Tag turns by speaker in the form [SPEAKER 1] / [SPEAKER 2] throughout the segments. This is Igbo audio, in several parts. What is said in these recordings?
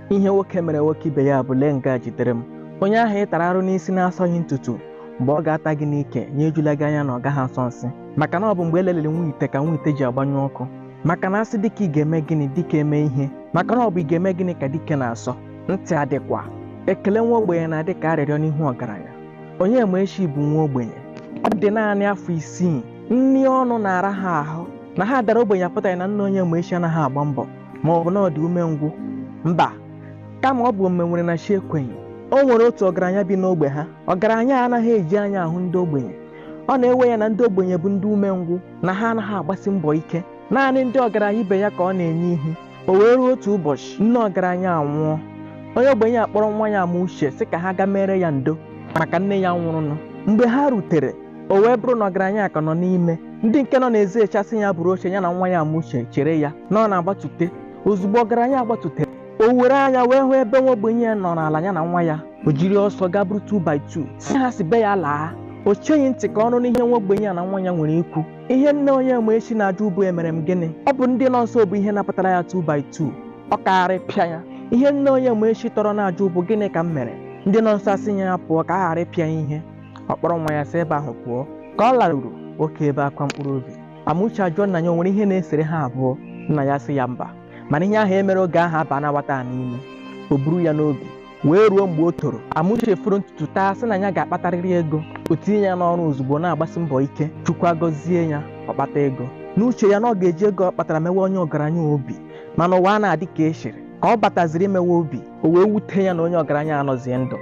[SPEAKER 1] ihe nwoke mere nwoke ibe ya bụ lee nke a jidere m onye ahụ ị tara arụ n'isi n'asọghị ntutu mgbe ọ ga-ata gị n'ike nya ejula gị anya na ọ gaghị asọ nsị maka na ọ bụ mgbe e leliri nwa ite ka nwa ite ji agbanyụ ọkụ maka na a sị dike ị ga-eme gịnị dike emee ihe maka na ọ bụ ị ga-eme gịnị ka dike na-asọ ntị adịkwa ekele nwa ogbenye na-adị ka arịrịọ n'ihu ọgaranya onyemaechi bụ nwa ogbenye ọ dị naanị afọ isii nri ọnụ na-ara ha ahụ na ha dara ogbenye apụtaghị na nna onyemaechi anaghị agba mbọ ma ọ bụ na ọ dị umengwụ mba kama ọ bụ o mewere na chi ekweghị o nwere otu ọgaranya bi n'ogbe ha ọgaranya a anaghị eji anya ahụ ndị ogbenye ọ na-ewe ya na ndị ogbenye bụ ndị umengwụ na ha anaghị agbasi mbọ ike naanị ndị ọgaranya ibe ya ka ọ na-enye ihu o wee ruo otu ụbọchị nne ọgaranya anwụọ onye ogbenye akpọrọ nwa ya amauche sị ka ha gaa meere ya ndo maka nne ya nwụrụnụ mgbe ha rutere o wee bụrụ na ọgaranya a ka nọ n'ime ndị nke nọ n'ezi eche sị ya buru oche ya na nwa ya amauche chere ya na ọ na-agbatute ozugbo ọgaranya agbatute o were anya wee hụ ebe nwa ogbenye a nọ n'ala ya na nwa ya o jiri ọsọ gaa buru 2 by 2 sị ha si be ya laa o cheghị ntị ka ọ nụ ihe nwa ogbenye ya na nwa ya nwere ikwu ihe nna onyemaechi na-ajụ bụ emere m gịnị ọ bụ ndị nọ nso bụ ihe napụtara ya 2 by 2 ọ kaara pịa ya ihe nna onyemaechi tọrọ na-ajụ bụ gịnị ka m mere ndị nọ nso asị ya ya pụọ ka a ghara ịpịa ya ihe ọ kpọrọ nwa ya si ebe ahụ pụọ ka ọ laruru oke ebe akwa mkpụrụ obi amuche ajụọ nna ya o nwere ihe na-esere ha abụọ nna ya sị ya mba mana ihe ahụ e mere oge ahụ abaana nwata a n'ime o buru ya n'obi wee ruo mgbe o toro amuche foro ntutu taa sị na ya ga-akpatarịrị ego o tinye ya n'ọrụ ozugbo na-agbasi mbọ ike chukwu agọzie ya ọ kpata ego n'uche ya na ọ ga-eji ego ọ kpatara mewe onye ọgaranya obi mana ụwa anaghị adị ka e chere ka ọ bataziri imewe obi o wee wute ya na onye ọgaranya anọzie ndụ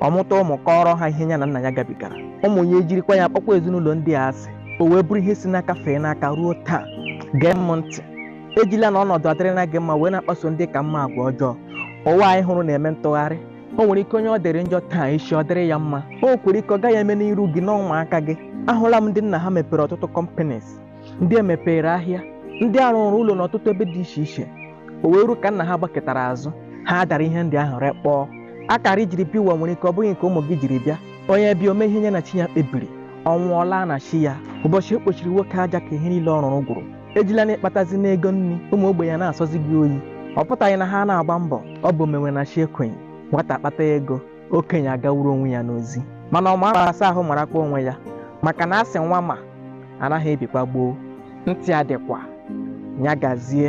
[SPEAKER 1] ọ mụta ụmụ kọọrọ ha ihe ya na nna ya gabigara ụmụ ya ejirikwa ya kpọkwa ezinụlọ ndị a asị o wee bụrụ ihe si n'aka fee n'aka ruo taa gee m ntị ejila na ọnọdụ adịrịla gị mma wee na-akpaso ndị ị ka mma agwa ọjọọ ụwa anyị hụrụ na-eme ntụgharị o nwere ike onye ọ dịrị njọ taa echi ọ dịrị ya mma o nwekwara ike ọ gaghị eme n'iru gị na ụmụaka gị ahụla m ndị nna ha mepere ọtụtụ companies ndị e mepeere ahịa ndị a rụụrụ ụlọ n'ọtụtụ ebe dị iche iche o wee ruo ka nna ha gbaketara azụ ha adara ihe ndị ahụ rekpọọ akara i jiri bịa ụwa nwere ike ọ bụghị nke ụmụ gị jiri bịa onye bịa o mee ihe nya na chi ya kpebiri ọ nwụọ ọ laa na chi ya ụbọchị e kpochiri nwoke aja ka ihe niile ọ rụrụ gwụrụ ejila na ị kpatazina ego nri ụmụ ogbenye na-asọzi gị oyi ọ pụtaghị na ha anaghị agba mbọ ọ bụ o mewe na chi ekwenye nwata kpata ego okenye agawuru onwe ya n'ozi mana ọ mara asa ahụ marakwa onwe ya maka na a sị nwa ma anaghị ebikwa gboo ntị adịkwa ya gazie